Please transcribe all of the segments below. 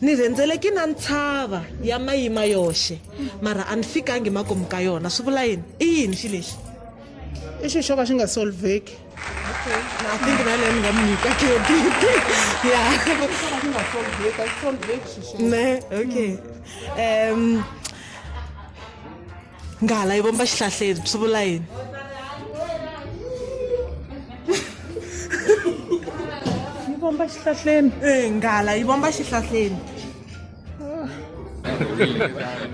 Ni rhendzeleki na ntshava ya mayima yoxe, mara a ni fikangi makumu ka yona. Swi vula yini? I yini xi lexi? I xi xo ka xi nga solveki. Okay. I think na leyi ni nga mi nyika credit. Yeah. Ne, okay. Um, nghala yi vomba xihlahleni swi vula yini yi vomba xihlahleni e nghala yi vomba xihlahleni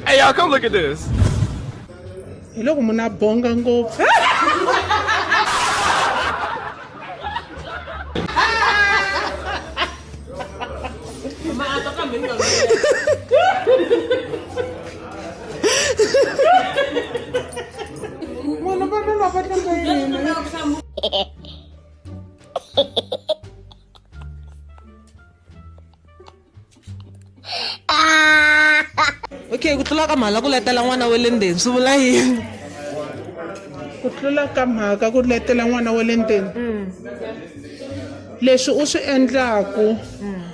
hey y'all come look at this hi loko munhu a bonga ngopfu Mano, pa pa pa pa pa Okay, ku tlula ka mhala ku letela n'wana wa le ndzeni swi vula yini? Ku tlula ka mhaka ku letela n'wana wa le ndzeni. Leswi u swi endlaku.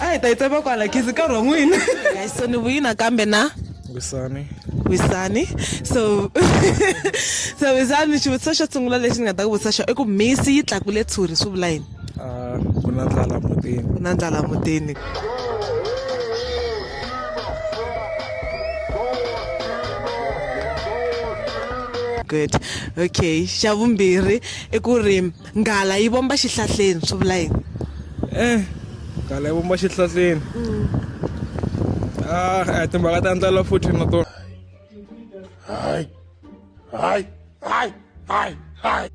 a hi ta yi tsema kwala khizi nkarhi wa n'wina so ni vuyi nakambe na wisani wisani so so wisani xivutiso xo sungula lexi ni nga ta ku vutisa xona i ku misi yi tlakule tshuri swi vula yini ah, ku na ndlala mutini ku na ndlala mutini good okay xa vumbirhi i ku ri Nghala yi vomba xihlahleni swi vula yini? Eh, nghala yi vomba xihlahleni. Mm. Ah, eh, timhaka ta ndlela futhi na tona. Hayi. Hayi. Hayi. Hayi. Hayi.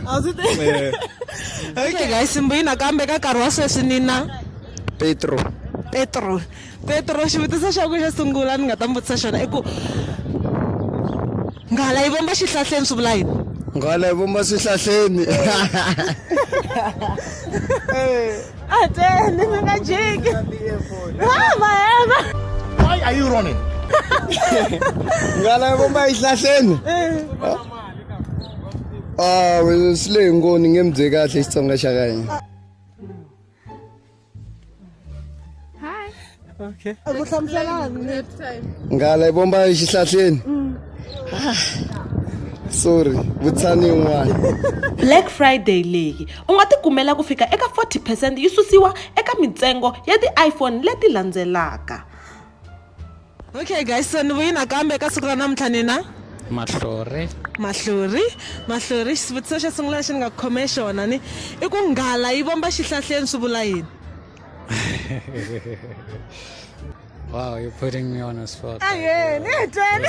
A swi tivi. Eh. Okay guys, simbuyini nakambe ka nkarhi wa sweswi nina. Petro. Petro. Petro, xivutiso xa ku xo sungula ni nga ta mi vutisa xona i ku nghala yi vomba xihlahleni swi vula yini nghala yi vomba swihlahleni ateni mi nga jiki mahema why are you running nghala yi vomba xihlahleni awe swi le hi ngoni nge mi bye kahle xitsonga xa ka hina okay a ku hlamuselani nghala yi vomba exihlahleni mm. ah, sorry vutshani yin'wana black friday leyi u nga tikumela ku fika eka 40 percent yi susiwa eka mintsengo ya ti-iphone leti landzelaka okay guys so ni vuyi nakambe eka siku ra namuntlha ni na mahlori mahlori mahlori xivutiso xo sungula lexi ni nga khome xona ni i ku nghala yi vomba xihlahleni swi vula yini wow you're putting me on a spot ayeni hi twele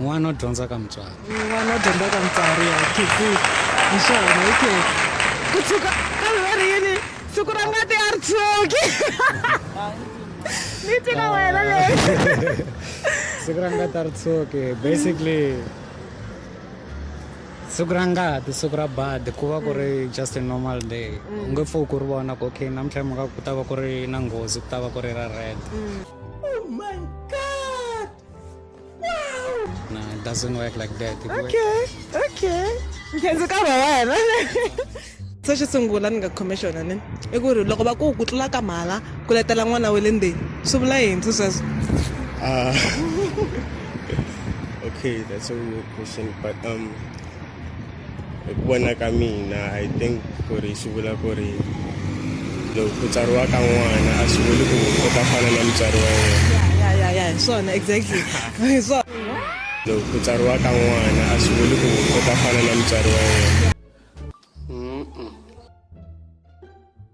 n'wana u dyondza ka mutswari n'wana u dyondza ka mutswari ya khizi hi swona hi khizi ku tshuka kambe va ri yini siku ra ngati a ri tshuki ni tika wena leyi siku ra ngati a ri tshuki basically siku ra ngati siku ra badi ku va ku ri mm. just a normal day mm. u nge pfuki ku ri vona ku okay namuntlha mhaka ku ta va ku ri na nghozi ku ta va ku ri ra red mm. No, it doesn't work like that. It works- okay okay nkhenzi ka va wena se xo sungula ni nga khome xona ni i ku ri loko va ku ku tlula ka mhala ku letela n'wana wa le ndzeni swi vula yini swi sweswo Uh, okay, that's a real question, but um, hi ku vona ka mina i think ku ri swi vula ku ri loko ku tsariwa ka n'wana a swi vuli ku u ta fana na mutswari wa yena ya ya ya hi swona exactly hi swona loko ku tsariwa ka n'wana a swi vuli ku u ta fana na mutswari wa yena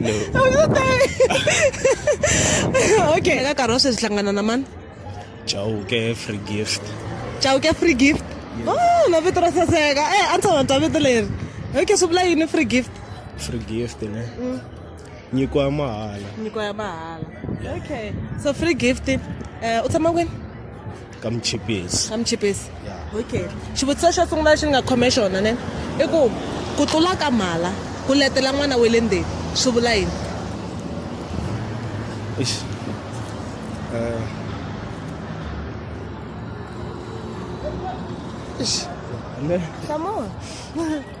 no. okay, ka karose sihlangana na mani? Chauke free gift. Chauke free gift? Yes. Oh, na vito ra saseka. Eh, a ndzi ta vito leri. Okay, swi vula yini free gift? Free gift, ne? Mm. nyiko ya mahala nyiko ya mahala okay so free gift uh, u tshama kwini ka muchipisi ka muchipisi okay xivutiso xo sungula lexi ni nga khome xona ne i ku ku tlula ka mhala ku letela n'wana wa le ndzeni swi vula yini Come on.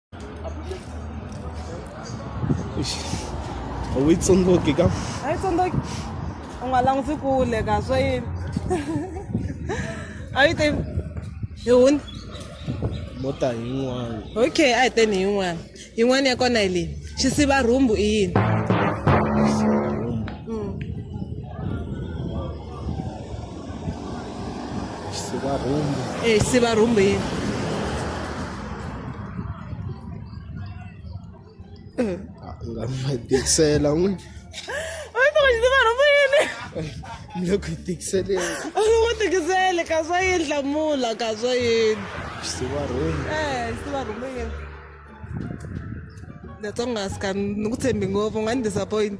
a wu yi tsundzuki ka a yi tsundzuki u nga languti kule ka swa yini a yi te hi huni mota yin'wana okay a hi teni yin'wana yin'wana ya kona hi leyi xisiva rhumbu i yini Sivarhumbu. e sivarhumbu yini nga mi tikisela n'wi a yi tava sivarhumbu yini mi le ku yi tikiseleni a yi n'wi tikisele ka swa yini hlamula ka swa yini sivarhumbu e sivarhumbu yini that's why u nga sika ni ku tshembi ngopfu u nga ni disappoint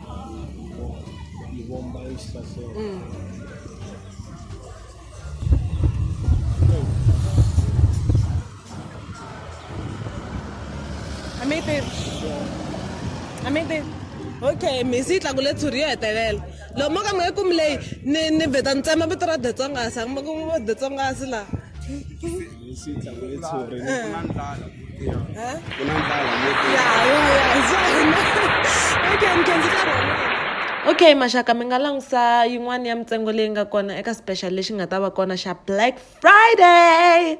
Ibomba isitase. amete amete okay misi yi tlakule tshuri yo hetelela loko mo ka mi nge kumi leyi ni ni vheta ni tsema vito ra detsongasi a ku ma ku detsongasi laha Hi xi ntlangu yo tshuri. Ku na ndlala. Ku na ndlala. Okay, mi khenzi ka rona. okay maxaka mi nga langusa yin'wana ya mintsengo leyi nga kona eka special lexi nga ta va kona xa black friday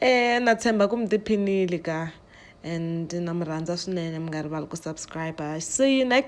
eh na tshemba ku mi tiphinile ka and na mi rhandza swinene mi nga rivali ku subscribe see you next